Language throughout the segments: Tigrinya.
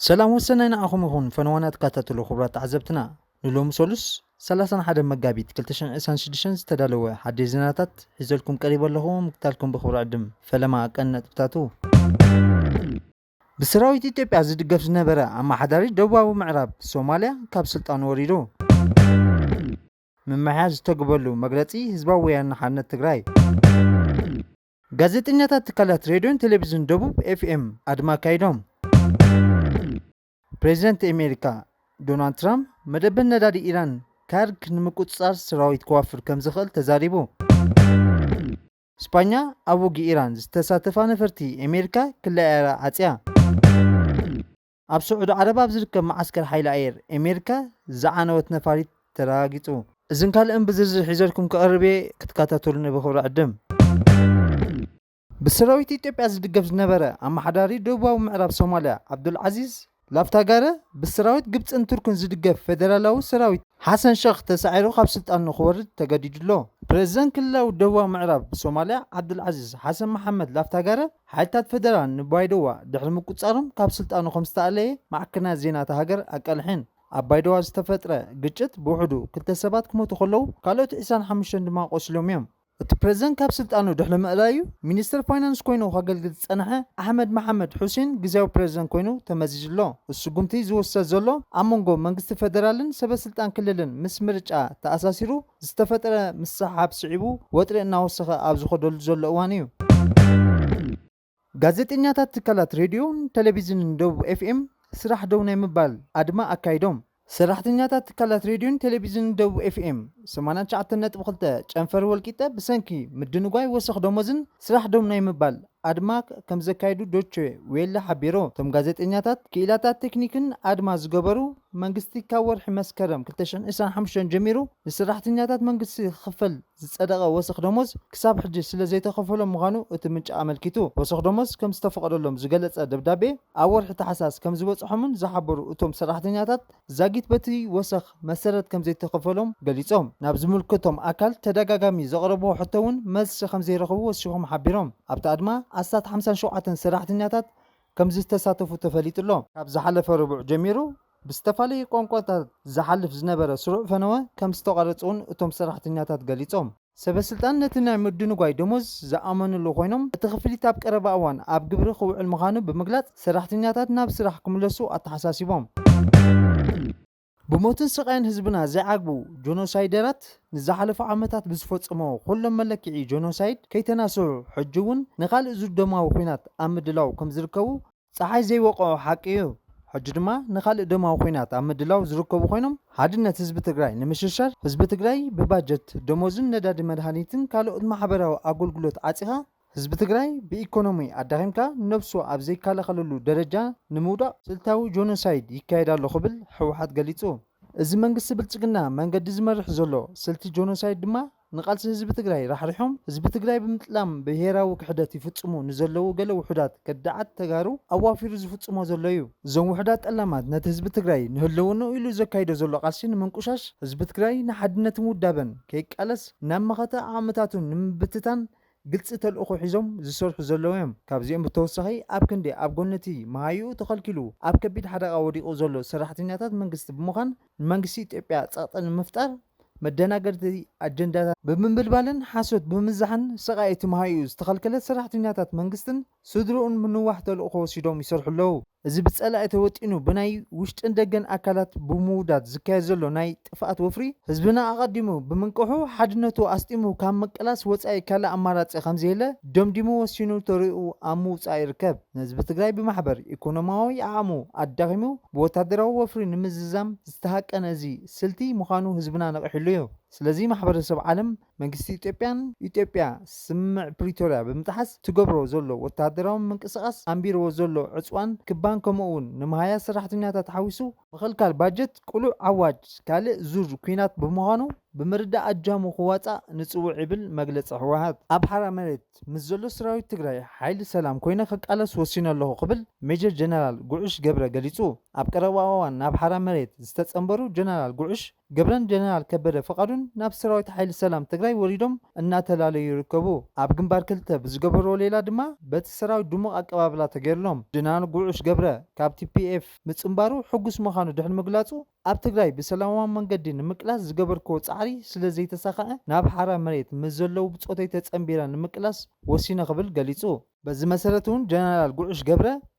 ሰላም ወሰናይ ንዓኹም ይኹን ፈነወና ተከታተሉ ክቡራት ተዓዘብትና ንሎሚ ሰሉስ 31 መጋቢት 226 ዝተዳለወ ሓድሽ ዜናታት ሒዘልኩም ቀሪበ ኣለኹ ምክታልኩም ብክብሪ ዕድም ፈለማ ቀን ነጥብታቱ ብሰራዊት ኢትዮጵያ ዝድገፍ ዝነበረ ኣመሓዳሪ ደቡባዊ ምዕራብ ሶማልያ ካብ ስልጣኑ ወሪዱ ምምሕያሽ ዝተግበሉ መግለፂ ህዝባዊ ወያነ ሓርነት ትግራይ። ጋዜጠኛታት ትካላት ሬድዮን ቴሌቪዝን ደቡብ ኤፍኤም ኣድማ ኣካይዶም። ፕሬዚደንት ኤሜሪካ ዶናልድ ትራምፕ መደበር ነዳዲ ኢራን ካርግ ንምቁፅፃር ሰራዊት ከዋፍር ከምዝኽእል ተዛሪቡ። ስጳኛ ኣብ ውግእ ኢራን ዝተሳተፋ ነፈርቲ ኤሜሪካ ክለኣያ ዓፅያ። ኣብ ስዑዲ ዓረብ ኣብ ዝርከብ መዓስከር ሓይሊ ኣየር ኤሜሪካ ዝዓነወት ነፋሪት ተረጋጊጹ። እዝን ካልእን ብዝርዝር ሒዘልኩም ክቐርብ እየ ክትከታተሉኒ ብኽብሪ ዕድም። ብሰራዊት ኢትዮጵያ ዝድገፍ ዝነበረ ኣመሓዳሪ ደቡባዊ ምዕራብ ሶማልያ ዓብዱልዓዚዝ ላፍታጋረ ብሰራዊት ግብጽን ቱርክን ዝድገፍ ፌደራላዊ ሰራዊት ሓሰን ሸኽ ተሳዒሩ ካብ ስልጣን ንኽወርድ ተገዲዱ'ሎ። ፕረዚደንት ክልላዊ ደቡባዊ ምዕራብ ሶማልያ ዓብዱልዓዚዝ ሓሰን መሓመድ ላፍታጋረ ሓይልታት ፈደራል ንባይዶዋ ድሕሪ ምቁጽጻሮም ካብ ስልጣኑ ከም ዝተኣለየ ማዕከናት ዜና እታ ሃገር ኣቃሊሐን። ኣብ ባይዶዋ ዝተፈጥረ ግጭት ብውሕዱ ክልተ ሰባት ክሞቱ ከለዉ ካልኦት ዕስራን ሓሙሽተን ድማ ቆሲሎም እዮም። እቲ ፕረዚደንት ካብ ስልጣኑ ድሕሪ ምእላዩ ሚኒስተር ፋይናንስ ኮይኑ ከገልግል ዝጸንሐ ኣሕመድ መሓመድ ሑሴን ግዝያዊ ፕረዚደንት ኮይኑ ተመዚዙ ኣሎ። እቲ ስጉምቲ ዝውሰድ ዘሎ ኣብ መንጎ መንግስቲ ፈደራልን ሰበስልጣን ክልልን ምስ ምርጫ ተኣሳሲሩ ዝተፈጥረ ምስሕሓብ ስዒቡ ወጥሪ እናወሰኸ ኣብ ዝኸደሉ ዘሎ እዋን እዩ። ጋዜጠኛታት ትካላት ሬድዮን ቴሌቪዝንን ደቡብ ኤፍኤም ስራሕ ደው ናይ ምባል ኣድማ ኣካይዶም። ሰራሕተኛታት ትካላት ሬድዮን ቴሌቪዝንን ደቡብ ኤፍኤም ሰማንያ ትሽዓተ ነጥቢ ክልተ ጨንፈር ወልቂጠ ብሰንኪ ምድንጓይ ወሰኽ ደሞዝን ስራሕ ደው ናይ ምባል ኣድማ ከምዘካየዱ ዶቼ ዌለ ሓቢሩ። እቶም ጋዜጠኛታት ክኢላታት ቴክኒክን ኣድማ ዝገበሩ፣ መንግስቲ ካብ ወርሒ መስከረም ክልተ ሽሕን ዕስራን ሓሙሽተን ጀሚሩ ንሰራሕተኛታት መንግስቲ ክኽፈል ዝጸደቐ ወሰኽ ደሞዝ ክሳብ ሕጂ ስለዘይተኸፈሎም ምዃኑ እቲ ምንጪ ኣመልኪቱ። ወሰኽ ደሞዝ ከምዝተፈቐደሎም ዝገለጸ ደብዳቤ ኣብ ወርሒ ታሕሳስ ከምዝበጽሖምን ዝሓበሩ እቶም ሰራሕተኛታት፣ ዛጊት በቲ ወሰኽ መሰረት ከምዘይተኸፈሎም ገሊጾም። ናብ ዝምልከቶም ኣካል ተደጋጋሚ ዘቕረብዎ ሕቶ'ውን መልሲ ከምዘይረኸቡ ወሲኾም ሓቢሮም። ኣብቲ ኣድማ ኣስታት ሓምሳን ሸውዓተን ሰራሕተኛታት፣ ከምዝተሳተፉ ተፈሊጡ'ሎ። ካብ ዝሓለፈ ረቡዕ ጀሚሩ ብዝተፋለየ ቋንቋታት ዝሓልፍ ዝነበረ ስሩዕ ፈነወ ከምዝተቋረጸ'ውን እቶም ሰራሕተኛታት ገሊጾም። ሰበስልጣን ነቲ ናይ ምድንጓይ ደሞዝ ዝኣመኑሉ ኮይኖም፣ እቲ ክፍሊት ኣብ ቀረባ እዋን ኣብ ግብሪ ክውዕል ምዃኑ ብምግላጽ ሰራሕተኛታት ናብ ስራሕ ክምለሱ ኣተሓሳሲቦም። ብሞትን ስቓይን ህዝብና ዘይዓግቡ ጆኖሳይደራት ንዝሓለፉ ዓመታት ብዝፈጸምዎ ኩሎም መለክዒ ጆኖሳይድ ከይተናስሑ ሕጂ'ውን ንኻልእ ዙር ደማዊ ኹናት ኣብ ምድላው ከምዝርከቡ ጸሓይ ዘይወቕዖ ሓቂ እዩ። ሕጂ ድማ ንኻልእ ደማዊ ኹናት ኣብ ምድላው ዝርከቡ ኮይኖም ሓድነት ህዝቢ ትግራይ ንምሽርሻር ህዝቢ ትግራይ ብባጀት፣ ደሞዝን ነዳዲ መድሃኒትን ካልኦት ማሕበራዊ ኣጎልጉሎት ዓጺኻ፣ ህዝቢ ትግራይ ብኢኮኖሚ ኣዳኺምካ ነብሱ ኣብ ዘይከላኸለሉ ደረጃ ንምውዳቕ ስልታዊ ጆኖሳይድ ይካየድ ኣሎ ክብል ህወሓት ገሊፁ። እዚ መንግስቲ ብልፅግና መንገዲ ዝመርሕ ዘሎ ስልቲ ጆኖሳይድ ድማ ንቓልሲ ህዝቢ ትግራይ ራሕሪሖም ህዝቢ ትግራይ ብምጥላም ብሄራዊ ክሕደት ይፍፅሙ ንዘለዉ ገለ ውሑዳት ከዳዓት ተጋሩ ኣዋፊሩ ዝፍፅሞ ዘሎ እዩ። እዞም ውሑዳት ጠላማት ነቲ ህዝቢ ትግራይ ንህልውንኡ ኢሉ ዘካይዶ ዘሎ ቓልሲ ንምንቁሻሽ፣ ህዝቢ ትግራይ ንሓድነትን ውዳበን ከይቃለስ ናብ መኸተ ዓቕምታቱ ንምብትታን፣ ግልፂ ተልእኾ ሒዞም ዝሰርሑ ዘለዉ ዮም። ካብዚኦም ብተወሳኺ ኣብ ክንዲ ኣብ ጎኒ እቲ መሃይኡ ተኸልኪሉ ኣብ ከቢድ ሓደጋ ወዲቑ ዘሎ ሰራሕተኛታት መንግስቲ ብምዃን ንመንግስቲ ኢትዮጵያ ፀቕጢ ንምፍጣር መደናገርቲ ኣጀንዳታት ብምምልባልን ሓሶት ብምዝዛሕን ሰቓይ እቲ መሃይኡ ዝተኸልከለ ሰራሕተኛታት መንግስትን ስድርኡን ምንዋሕ ተልእኾ ወሲዶም ይሰርሑ ኣለዉ። እዚ ብጸላኢ ተወጢኑ ብናይ ውሽጥን ደገን ኣካላት ብምውዳድ ዝካየድ ዘሎ ናይ ጥፍኣት ወፍሪ፣ ህዝብና ኣቐዲሙ ብምንቅሑ ሓድነቱ ኣስጢሙ ካብ ምቅላስ ወጻኢ ካልእ ኣማራጺ ከምዘየለ ደምዲሙ ወሲኑ ተርኡ ኣብ ምውጻእ ይርከብ። ንህዝቢ ትግራይ ብማሕበር ኢኮኖሚያዊ ዓቕሙ ኣዳኺሙ ብወታደራዊ ወፍሪ ንምዝዛም ዝተሃቀነ እዚ ስልቲ ምዃኑ ህዝብና ነቒሕሉ እዩ። ስለዚ ማሕበረሰብ ዓለም መንግስቲ ኢትዮጵያን ኢትዮጵያ ስምምዕ ፕሪቶርያ ብምጥሓስ ትገብሮ ዘሎ ወተሃደራዊ ምንቅስቓስ ኣንቢርዎ ዘሎ ዕፅዋን ክባን ከምኡ እውን ንመሃያ ሰራሕተኛታት ሓዊሱ ምኽልካል ባጀት ቅሉዕ ኣዋጅ ካልእ ዙር ኲናት ብምዃኑ ብምርዳእ ኣጃሙ ክዋፃእ ንፅውዕ ይብል መግለፂ ህወሓት። ኣብ ሓራ መሬት ምስ ዘሎ ሰራዊት ትግራይ ሓይሊ ሰላም ኮይነ ክቃለስ ወሲነ ኣለኹ ክብል ሜጀር ጀነራል ጉዕሽ ገብረ ገሊፁ። ኣብ ቀረባ እዋን ናብ ሓራ መሬት ዝተፀምበሩ ጀነራል ጉዕሽ፣ ገብረን ጀነራል ከበደ ፍቃዱን ናብ ሰራዊት ሓይሊ ሰላም ትግራይ ወሪዶም እናተላለዩ ይርከቡ። ኣብ ግንባር ክልተ ብዝገበርዎ ሌላ ድማ በቲ ሰራዊት ድሙቅ ኣቀባብላ ተገይርሎም። ጀነራል ጉዑሽ ገብረ ካብ tpf ምፅንባሩ ሕጉስ ምኻኑ ድሕሪ ምግላፁ ኣብ ትግራይ ብሰላማዊ መንገዲ ንምቅላስ ዝገበርክዎ ፃዕሪ ስለዘይተሳኸዐ ናብ ሓራ መሬት ምስ ዘለው ብፆተይ ተፀንቢረ ንምቅላስ ወሲነ ክብል ገሊፁ። በዚ መሰረት እውን ጀነራል ጉዑሽ ገብረ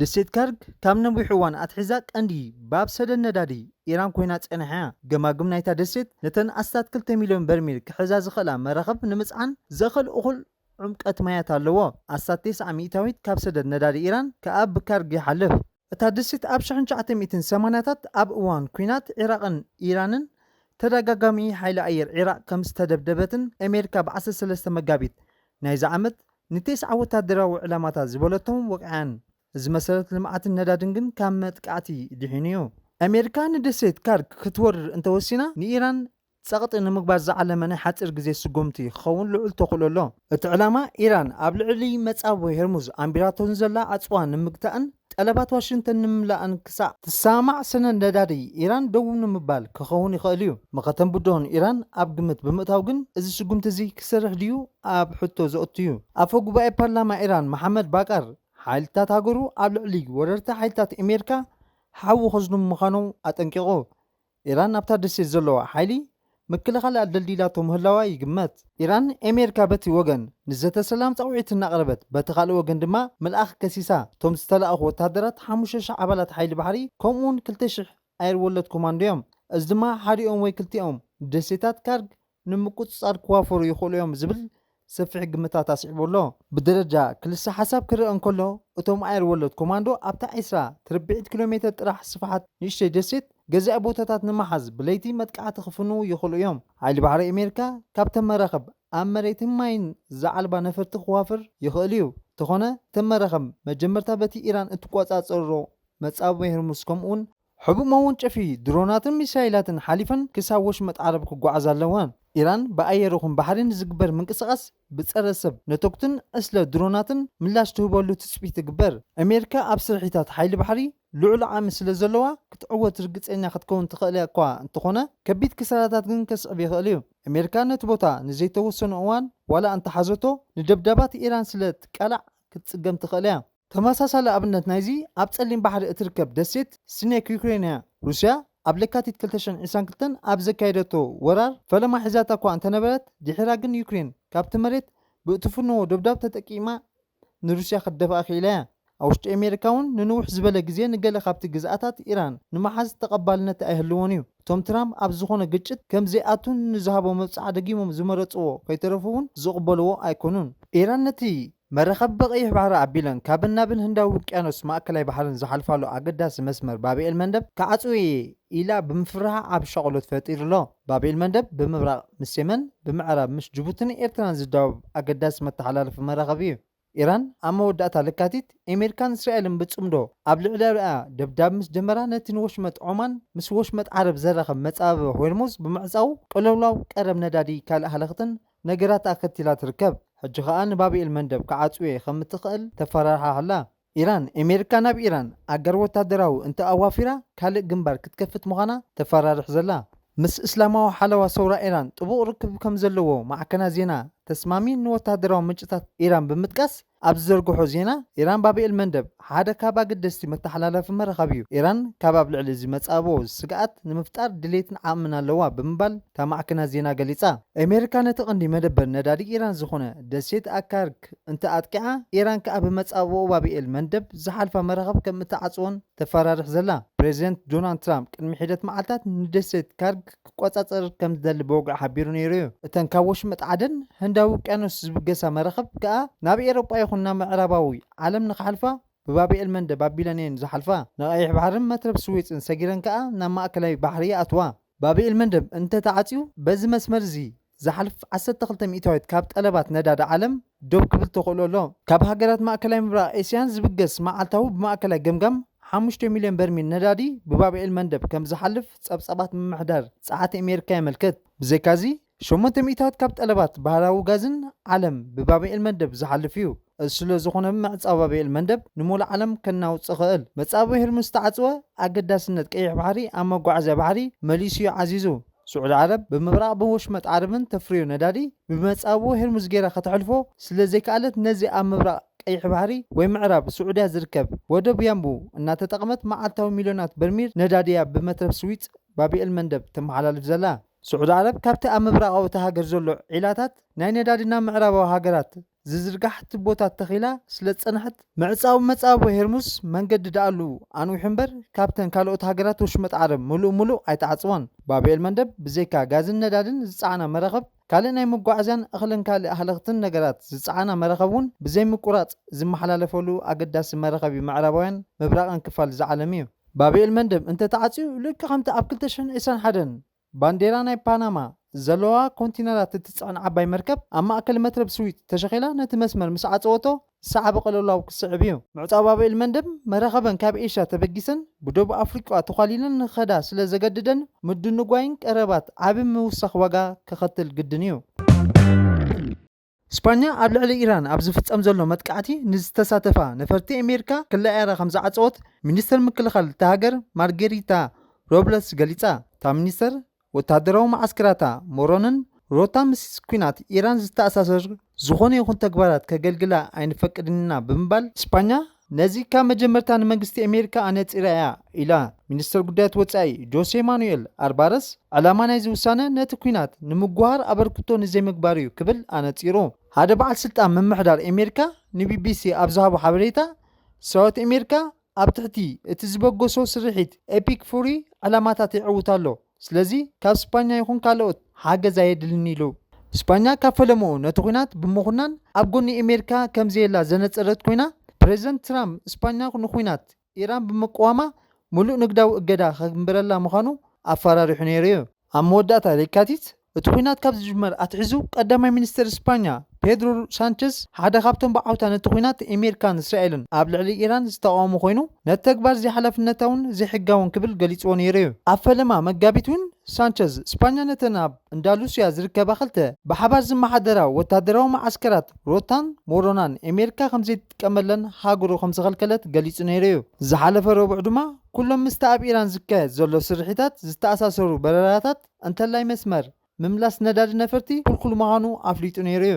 ደሴት ከርግ ካብ ነዊሕ እዋን ኣትሒዛ ቀንዲ ባብ ሰደድ ነዳዲ ኢራን ኮይና ጸኒሓ እያ። ገማግም ናይታ ደሴት ነተን ኣስታት ክልተ ሚልዮን በርሚል ክሕዛ ዝኽእላ መራኽብ ንምጽዓን ዘኽእል እኹል ዑምቀት ማያት ኣለዎ። ኣስታት ቴስዓ ሚእታዊት ካብ ሰደድ ነዳዲ ኢራን ከኣ ብከርግ ይሓልፍ። እታ ደሴት ኣብ ሽሕን ትሽዓተ ሚእትን ሰማንያታት ኣብ እዋን ኲናት ዒራቕን ኢራንን ተደጋጋሚ ሓይሊ ኣየር ዒራቕ ከም ዝተደብደበትን ኣሜሪካ ብ ዓሰርተ ሰለስተ መጋቢት ናይዚ ዓመት ንቴስዓ ወታደራዊ ዕላማታት ዝበለቶም ወቒዓን፣ እዚ መሰረት ልምዓትን ነዳድን ግን ካብ መጥቃዕቲ ድሒኑ እዩ። ኣሜሪካ ንደሴት ካርክ ክትወርር እንተወሲና፣ ንኢራን ጸቕጢ ንምግባር ዝዓለመ ናይ ሓጺር ግዜ ስጉምቲ ክኸውን ልዑል ተኽእሎ ኣሎ። እቲ ዕላማ፣ ኢራን ኣብ ልዕሊ መጻብቦ ሄርሙዝ ኣንቢራቶ ንዘላ ዕጽዋ ንምግታእን ጠለባት ዋሽንግተን ንምምላእን ክሳዕ። ትሰማማዕ ሰነድ ነዳዲ ኢራን ደው ንምባል ክኸውን ይኽእል እዩ። መኸተን ብድሆን ኢራን ኣብ ግምት ብምእታው ግን እዚ ስጉምቲ እዚ ክሰርሕ ድዩ ኣብ ሕቶ ዘእቱ እዩ። ኣፈ ጉባኤ ፓርላማ ኢራን መሓመድ ባቃር ሓይልታት ሃገሩ ኣብ ልዕሊ ወረርቲ ሓይልታት ኤሜሪካ ሓዊ ከዝንቡ ምዃኖም ኣጠንቂቑ። ኢራን ናብታ ደሴት ዘለዋ ሓይሊ ምክልኻል ኣደልዲላቶ ምህላዋ ይግመት። ኢራን፣ ኤሜርካ በቲ ወገን ንዘተ ሰላም ጸውዒት እናቕረበት በቲ ካልእ ወገን ድማ ምልኣኽ ከሲሳ። እቶም ዝተላእኹ ወተሃደራት ሓሙሽተ ሽሕ ኣባላት ሓይሊ ባሕሪ ከምኡ'ውን ክልተ ሽሕ ኣየር ወለድ ኮማንዶ'ዮም፣ እዚ ድማ ሓዲኦም ወይ ክልቲኦም ደሴታት ካርግ ንምቁጽጻር ክዋፈሩ ይኽእሉ እዮም ዝብል ሰፊሕ ግምታት ኣስዒቡ ኣሎ። ብደረጃ ክልሰ ሓሳብ ክርኣ እንከሎ፣ እቶም ኣየር ወለድ ኮማንዶ ኣብታ ዕስራ ትርብዒት ኪሎሜተር ጥራሕ ስፍሓት ንእሽተይ ደሴት ገዛኢ ቦታታት ንምሓዝ ብለይቲ መጥቃዕቲ ክፍንዉ ይኽእሉ እዮም። ሓይሊ ባሕሪ ኣሜሪካ ካብተን መራኽብ ኣብ መሬትን ማይን ዝዓልባ ነፈርቲ ክዋፍር ይኽእል እዩ፣ እንተኾነ እተን መራኽብ መጀመርታ በቲ ኢራን እትቆጻጸሮ መጻብቦ ሄርሙዝ ከምኡ'ውን፣ ሕቡእ መወንጨፊ ድሮናትን ሚሳይላትን ሓሊፈን ክሳብ ወሽመጥ ዓረብ ክጓዓዛ ኣለወን። ኢራን ብኣየር ይኹን ባሕሪ ንዝግበር ምንቅስቓስ ብጸረ ሰብ ነቶግትን ዕስለ ድሮናትን ምላሽ ትህበሉ ትጽቢት ይግበር። ኣሜሪካ ኣብ ስርሒታት ሓይሊ ባሕሪ ልዑል ዓቕሚ ስለ ዘለዋ ክትዕወት ርግጸኛ ክትከውን ትኽእል'ኳ እንተኾነ ከቢድ ክሳራታት ግን ከስዕብ ይኽእል'ዩ። ኣሜሪካ ነቲ ቦታ ንዘይተወሰነ እዋን ዋላ እንተሓዘቶ ንደብዳባት ኢራን ስለ ትቃላዕ ክትጽገም ትኽእል'ያ። ተመሳሳሊ ኣብነት ናይዚ ኣብ ጸሊም ባሕሪ እትርከብ ደሴት ስኔክ ዩክሬን'ያ። ሩስያ ኣብ ለካቲት ክልተ ሽሕን ዒስራን ክልተን ኣብ ዘካየደቶ ወራር ፈለማ ሒዛታ'ኳ እንተነበረት፣ ድሒራ ግን ዩክሬን ካብቲ መሬት ብእትፍንዎ ዶብዳብ ተጠቂማ ንሩስያ ክትደፍኣ ክኢላ'ያ። ኣብ ውሽጢ ኣሜሪካ'ውን ንንውሕ ዝበለ ግዜ ንገለ ካብቲ ግዝኣታት ኢራን ንምሓዝ ተቐባልነት ኣይህልዎን'ዩ። እቶም ትራምፕ ኣብ ዝኾነ ግጭት ከም ዘይኣቱ ንዝሃቦ መብጽዓ ደጊሞም ዝመረጽዎ ከይተረፉ'ውን ዝቕበልዎ ኣይኮኑን። ኢራን ነቲ መራኸቢ ብቐይሕ ባሕሪ ኣቢለን ካብን ናብን ህንዳዊ ውቅያኖስን ማእከላይ ባሕርን ዝሓልፋሉ ኣገዳሲ መስመር ባብ ኤል-መንደብ ክዓጽው እየ ኢላ ብምፍርሓ ዓቢ ሻቕሎት ፈጢሩ ኣሎ። ባብ ኤል-መንደብ ብምብራቕ ምስ የመን፣ ብምዕራብ ምስ ጅቡቲን ኤርትራን ዝዳወብ ኣገዳሲ መተሓላለፊ መራኽብ እዩ። ኢራን ኣብ መወዳእታ ለካቲት ኤሜሪካን እስራኤልን ብጽምዶ ኣብ ልዕለርኣ ደብዳብ ምስ ጀመራ ነቲ ንወሽመጥ ዖማን ምስ ወሽመጥ ዓረብ ዘራኽብ መጻብብ ሆርሙዝ ብምዕጻዉ ቅልውላው ቀረብ ነዳዲ ካልእ ሃለኽትን ነገራት ኣኸቲላ ትርከብ። ሕጂ ከኣ ንባብ ኤልመንደብ ክዓጽው'የ ከም እትኸእል ተፈራርሓ ኣላ። ኢራን፣ ኤሜሪካ ናብ ኢራን ኣጋር ወታደራዊ እንተ ኣዋፊራ ካልእ ግንባር ክትከፍት ምዃና ተፈራርሕ ዘላ። ምስ እስላማዊ ሓለዋ ሰውራ ኢራን ጥቡቕ ርክብ ከም ዘለዎ ማዕከናት ዜና ተስማሚ ንወታደራዊ ምንጭታት ኢራን ብምጥቃስ ኣብ ዝዘርግሖ ዜና፣ ኢራን ባብ ኤል መንደብ ሓደ ካብ ኣገደስቲ መተሓላለፊ መራኸቢ'ዩ፣ ኢራን ካብ ኣብ ልዕሊ እዚ መጻብቦ ስግኣት ንምፍጣር ድሌትን ዓቕምን ኣለዋ ብምባል እታ ማዕከናት ዜና ገሊጻ። ኣሜሪካ ነቲ ቀንዲ መደበር ነዳዲ ኢራን ዝዀነ ደሴት ኣካርክ እንተ ኣጥቂዓ፣ ኢራን ከኣ ብመጻብቦ ባብ ኤል መንደብ ዝሓልፋ መራኽብ ከም እትዓጽዎን ተፈራርሕ ዘላ። ፕረዚደንት ዶናልድ ትራምፕ ቅድሚ ሒደት መዓልታት ንደሴት ካርክ፣ ክቆጻጸር ከም ዝደሊ ብወግዒ ሓቢሩ ነይሩ እዩ። እተን ካብ ወሽመጥ ዓደን ህንዳዊ ውቅያኖስ ዝብገሳ መራኽብ ከኣ ናብ ኤሮጳ ይኹን ናብ ምዕራባዊ ዓለም ንኽሓልፋ ብባብ ኤልመንደ ባቢለን እየን ዝሓልፋ። ንቐይሕ ባሕርን መትረብ ስዌጽን ሰጊረን ከኣ ናብ ማእከላይ ባሕሪ ይኣትዋ። ባብ ኤልመንደብ እንተ ተዓጽዩ በዚ መስመር እዚ ዝሓልፍ ዓሰርተ ክልተ ሚእታዊት ካብ ጠለባት ነዳዲ ዓለም ደው ክብል ተኽእሎ ኣሎ። ካብ ሃገራት ማእከላይ ምብራቕ ኤስያን ዝብገስ መዓልታዊ ብማእከላይ ገምጋም ሓሙሽተ ሚልዮን በርሚል ነዳዲ ብባብኤል መንደብ ከም ዝሓልፍ ጸብጻባት ምምሕዳር ጸዓት ኣሜሪካ የመልክት። ብዘይካ'ዚ ሸሞንተ ሚእታዊት ካብ ጠለባት ባህራዊ ጋዝን ዓለም ብባብኤል መንደብ ዝሓልፍ እዩ። እዚ ስለ ዝኾነ ምዕጻው ባብኤል መንደብ ንምሉእ ዓለም ከናውጽ ይኽእል። መጻብቦ ሄርሙዝ ዝተዓጽወ ኣገዳስነት ቀይሕ ባሕሪ ኣብ መጓዓዝያ ባሕሪ መሊሱ እዩ ዓዚዙ። ስዑዲ ዓረብ ብምብራቕ ብወሽመጥ ዓረብን ተፍርዮ ነዳዲ ብመጻብቦ ሄርሙዝ ገይራ ከተሕልፎ ስለ ዘይከኣለት ነዚ ኣብ ምብራቕ ቀይሕ ባሕሪ ወይ ምዕራብ ስዑድያ ዝርከብ ወደብ ያንቡ እናተጠቕመት መዓልታዊ ሚልዮናት በርሚል ነዳዲ እያ ብመትረብ ስዊጽ፣ ባብኤል መንደብ፣ ተመሓላልፍ ዘላ። ስዑዲ ዓረብ ካብቲ ኣብ ምብራቓዊ እታ ሃገር ዘሎ ዒላታት ናይ ነዳዲ ናብ ምዕራባዊ ሃገራት ዝዝርጋሕ ትቦታት ተኺላ ስለዝጸንሐት፣ ምዕጻው መጻብቦ ሄርሙዝ መንገዲ ደኣሉ ኣንዊሑ እምበር ካብተን ካልኦት ሃገራት ወሽመጥ ዓረብ ምሉእ ምሉእ ኣይተዓጽወን። ባብኤል መንደብ ብዘይካ ጋዝን ነዳድን ዝጸዓና መራኽብ፣ ካልእ ናይ መጓዓዝያን እኽልን ካልእ ሃለኽትን ነገራት ዝጸዓና መራኽብ'ውን ብዘይምቁራጽ ዝመሓላለፈሉ ኣገዳሲ መራኸቢ ምዕራባውያን ምብራቕን ክፋል እዚ ዓለም'ዩ። ባብኤል መንደብ እንተተዓጽዩ ልክዕ ከምቲ ኣብ ክልተ ሽሕን ዒስራን ሓደን፣ ባንዴራ ናይ ፓናማ ዘለዋ ኮንቲነራት እትጽዕን ዓባይ መርከብ ኣብ ማእከል መትረብ ስዊት ተሸኺላ ነቲ መስመር ምስ ዓጸወቶ ሳዕቢ ቅልውላው ክስዕብ እዩ። ምዕጻው ባብኤል መንደብ መራኽበን ካብ ኤሽያ ተበጊሰን ብዶብ ኣፍሪቃ ተዃሊለን ንኽኸዳ ስለ ዘገድደን ምድንጓይን ቀረባት ዓቢ ምውሳኽ ዋጋ ከኸትል ግድን እዩ። ስጳኛ ኣብ ልዕሊ ኢራን ኣብ ዝፍጸም ዘሎ መጥቃዕቲ ንዝተሳተፋ ነፈርቲ ኣሜሪካ ክለኣያራ ከምዝዓጸወት ሚኒስተር ምክልኻል እታ ሃገር ማርጌሪታ ሮብለስ ገሊጻ። እታ ሚኒስተር፣ ወተሃደራዊ መዓስከራታ ሞሮንን ሮታ ምስ ኲናት ኢራን ዝተኣሳሰር ዝኾነ ይኹን ተግባራት ከገልግላ ኣይንፈቅድን ኢና ብምባል፣ ስጳኛ ነዚ ካብ መጀመርታ ንመንግስቲ ኣሜሪካ ኣነጺራ እያ ኢላ። ሚኒስተር ጉዳያት ወጻኢ ጆሴ ማኑኤል ኣርባረስ ዕላማ ናይዚ ውሳነ ነቲ ኲናት ንምጉሃር ኣበርክቶ ንዘይምግባር እዩ ክብል ኣነጺሩ። ሓደ በዓል ስልጣን ምምሕዳር ኣሜሪካ ንቢቢሲ ኣብ ዝሃቦ ሓበሬታ፣ ሰራዊት ኣሜሪካ ኣብ ትሕቲ እቲ ዝበገሶ ስርሒት ኤፒክ ፉሪ ዕላማታት የዕውት ኣሎ፣ ስለዚ ካብ ስፓኛ ይኹን ካልኦት ሓገዝ ኣየድልን'ዩ ኢሉ። ስፓኛ ካብ ፈለምኡ ነቲ ኲናት ብምኹናን ኣብ ጎኒ ኣሜሪካ ከምዘየላ ዘነጸረት ኮይና፣ ፕረዚደንት ትራምፕ ስፓኛ ንኲናት ኢራን ብምቅዋማ ምሉእ ንግዳዊ እገዳ ከግብረላ ምዃኑ ኣፈራሪሑ ነይሩ'ዩ። ኣብ መወዳእታ ለካቲት እቲ ኹናት ካብ ዝጅመር ኣትሒዙ ቀዳማይ ሚኒስተር ስፓኛ ፔድሮ ሳንቸዝ ሓደ ካብቶም ብዓውታ ነቲ ኹናት ኤሜርካን እስራኤልን ኣብ ልዕሊ ኢራን ዝተቓወሙ ኮይኑ ነቲ ተግባር ዘይሓላፍነታውን ዘይሕጋውን ክብል ገሊጽዎ ነይሩ እዩ። ኣብ ፈለማ መጋቢት እውን ሳንቸዝ ስፓኛ ነተን ኣብ እንዳሉስያ ዝርከባ ክልተ ብሓባር ዝመሓደራ ወተሃደራዊ መዓስከራት ሮታን ሞሮናን ኤሜርካ ከምዘይትጥቀመለን ሃገሩ ከምዝኸልከለት ገሊጹ ነይሩ እዩ። ዝሓለፈ ረቡዕ ድማ ኩሎም ምስቲ ኣብ ኢራን ዝካየድ ዘሎ ስርሒታት ዝተኣሳሰሩ በረራታት እንተላይ መስመር ምምላስ ነዳዲ ነፈርቲ ክልኩል ምዃኑ ኣፍሊጡ ነይሩ'ዩ።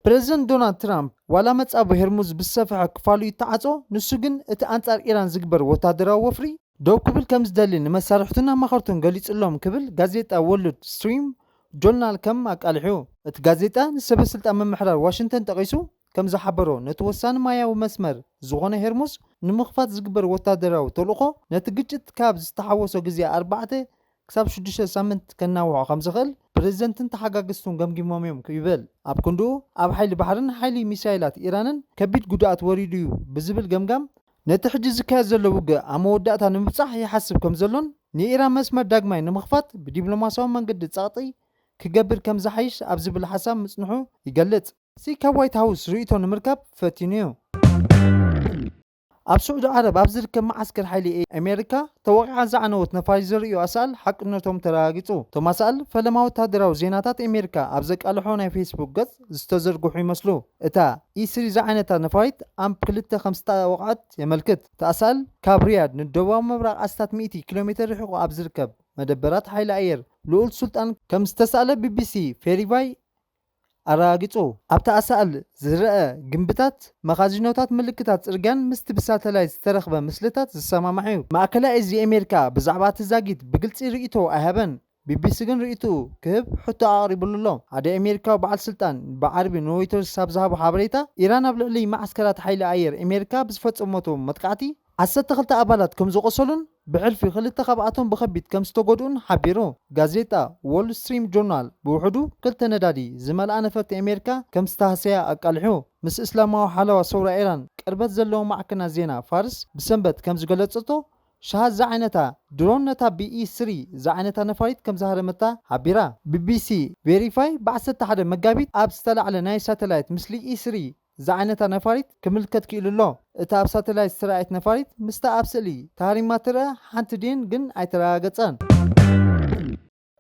ፕረዚደንት ዶናልድ ትራምፕ፣ ዋላ መጻብቦ ሄርሙዝ ብዝሰፍሐ ክፋሉ ይተዓጾ፣ ንሱ ግን እቲ ኣንጻር ኢራን ዝግበር ወተሃደራዊ ወፍሪ ደው ክብል ከም ዝደሊ ንመሳርሕቱን ኣማኸርቱን ገሊጹሎም ክብል ጋዜጣ ዎርልድ ስትሪም ጆርናል ከም ኣቃሊሑ እቲ ጋዜጣ ንሰበስልጣን ምምሕዳር ዋሽንግተን ጠቒሱ ከም ዝሓበሮ፣ ነቲ ወሳኒ ማያዊ መስመር ዝዀነ ሄርሙዝ ንምኽፋት ዝግበር ወተሃደራዊ ተልእኾ፣ ነቲ ግጭት ካብ ዝተሓወሶ ግዜ ኣርባዕተ ክሳብ ሽዱሽተ ሳምንት ከናውሖ ከም ዝኽእል ፕረዚደንትን ተሓጋገዝቱን ገምጊሞም'ዮም ይበል። ኣብ ክንድኡ፣ ኣብ ሓይሊ ባሕርን ሓይሊ ሚሳይላት ኢራንን ከቢድ ጕድኣት ወሪዱ'ዩ ብዝብል ገምጋም፣ ነቲ ሕጂ ዝካየድ ዘሎ ውግእ ኣብ መወዳእታ ንምብጻሕ ይሓስብ ከም ዘሎን ንኢራን መስመር ዳግማይ ንምኽፋት ብዲፕሎማስያዊ መንገዲ ጸቕጢ ክገብር ከም ዝሓይሽ ኣብ ዝብል ሓሳብ ምጽንሑ ይገልጽ። ሲ ካብ ዋይት ሃውስ ርእይቶ ንምርካብ ፈቲኑ'ዩ። ኣብ ስዑዲ ዓረብ ኣብ ዝርከብ መዓስከር ሓይሊ ኣሜሪካ ተወቒዓ ዝዓነወት ነፋሪት ዘርእዩ ኣሳእል ሓቅነቶም ተረጋጊጹ። እቶም ኣሳእል ፈለማ ወተሃደራዊ ዜናታት ኣሜሪካ ኣብ ዘቃልሖ ናይ ፌስቡክ ገጽ ዝተዘርግሑ ይመስሉ። እታ ኢ-ስሪ ዝዓይነታ ነፋሪት ኣምፕ ክልተ ከም ዝተወቕዐት የመልክት። እቲ ኣሳእል ካብ ሪያድ ንደቡባዊ ምብራቕ ኣስታት ሚእቲ ኪሎሜተር ርሒቑ ኣብ ዝርከብ መደበራት ሓይሊ ኣየር ልኡል ሱልጣን ከም ዝተሳእለ ቢቢሲ ፌሪቫይ ኣረጋጊጹ። ኣብቲ ኣሳእል ዝረኣ ግምብታት መኻዚኖታት ምልክታት ጽርግያን ምስቲ ብሳተላይት ዝተረኽበ ምስልታት ዝሰማማዕ'ዩ። ማእከላይ እዚ ኣሜሪካ ብዛዕባ እቲ ዛጊት ብግልጺ ርእይቶኡ ኣይሃበን፣ ቢቢሲ ግን ርእይቶኡ ክህብ ሕቶ ኣቕሪብሉ'ሎ። ሓደ ኣሜሪካዊ በዓል ስልጣን ብዓርቢ ንሮይተርስ ኣብ ዝሃቦ ሓበሬታ፣ ኢራን ኣብ ልዕሊ መዓስከራት ሓይሊ ኣየር ኣሜሪካ ብዝፈጸመቶ መጥቃዕቲ፣ ዓሰርተ ክልተ ኣባላት ከም ዝቖሰሉን ብሕልፊ ክልተ ካብኣቶም ብኸቢድ ከም ዝተጎድኡን ሓቢሩ። ጋዜጣ ዎል ስትሪም ጆርናል ብውሕዱ ክልተ ነዳዲ ዝመልኣ ነፈርቲ ኣሜሪካ ከም ዝተሃሰያ ኣቃሊሑ። ምስ እስላማዊ ሓለዋ ሰውራ ኢራን ቅርበት ዘለዎ ማዕከናት ዜና ፋርስ ብሰንበት ከም ዝገለጸቶ፣ ሻሃድ ዝዓይነታ ድሮን ነታ ቢኢ ስሪ ዝዓይነታ ነፋሪት ከም ዝሃረመታ ሓቢራ። ቢቢሲ ቬሪፋይ ብ ዓሰርተ ሓደ መጋቢት ኣብ ዝተላዕለ ናይ ሳተላይት ምስሊ ኢስሪ ዝዓይነታ ነፋሪት ክምልከት ክኢሉ ኣሎ። እታ ኣብ ሳተላይት ዝተራእየት ነፋሪት ምስታ ኣብ ስእሊ ተሃሪማ ትርኣ ሓንቲ ድየን ግን ኣይተረጋገጸን።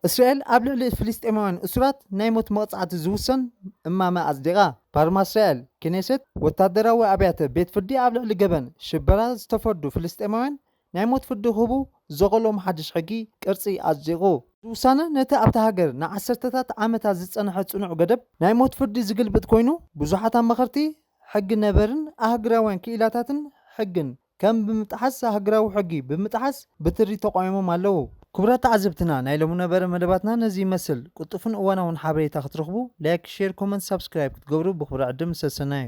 እስራኤል ኣብ ልዕሊ ፍልስጤማውያን እሱራት ናይ ሞት መቕጻዕቲ ዝውሰን እማመ ኣጽዲቓ። ፓርማ እስራኤል፣ ክኔሴት፣ ወታደራዊ ኣብያተ ቤት ፍርዲ ኣብ ልዕሊ ገበን ሽበራ ዝተፈርዱ ፍልስጤማውያን ናይ ሞት ፍርዲ ክህቡ ዘኸሎም ሓድሽ ሕጊ ቅርጺ ኣጽዲቑ። እዚ ውሳነ ነቲ ኣብታ ሃገር ንዓሰርተታት ዓመታት ዝጸንሐ ጽኑዕ ገደብ ናይ ሞት ፍርዲ ዝግልብጥ ኮይኑ፣ ብዙሓት ኣማኸርቲ ሕጊ ነበርን ኣህግራውያን ክኢላታትን ሕግን ከም ብምጥሓስ ኣህግራዊ ሕጊ ብምጥሓስ ብትሪ ተቛዊሞም ኣለዉ። ክቡራት ተዓዘብትና ናይ ሎሚ ነበረ መደባትና ነዚ ይመስል። ቅልጡፍን እዋናውን ሓበሬታ ክትረኽቡ ላይክ ሼር ኮመንት ሳብስክራይብ ክትገብሩ ብኽብሪ ዕድም ሰሰናዩ።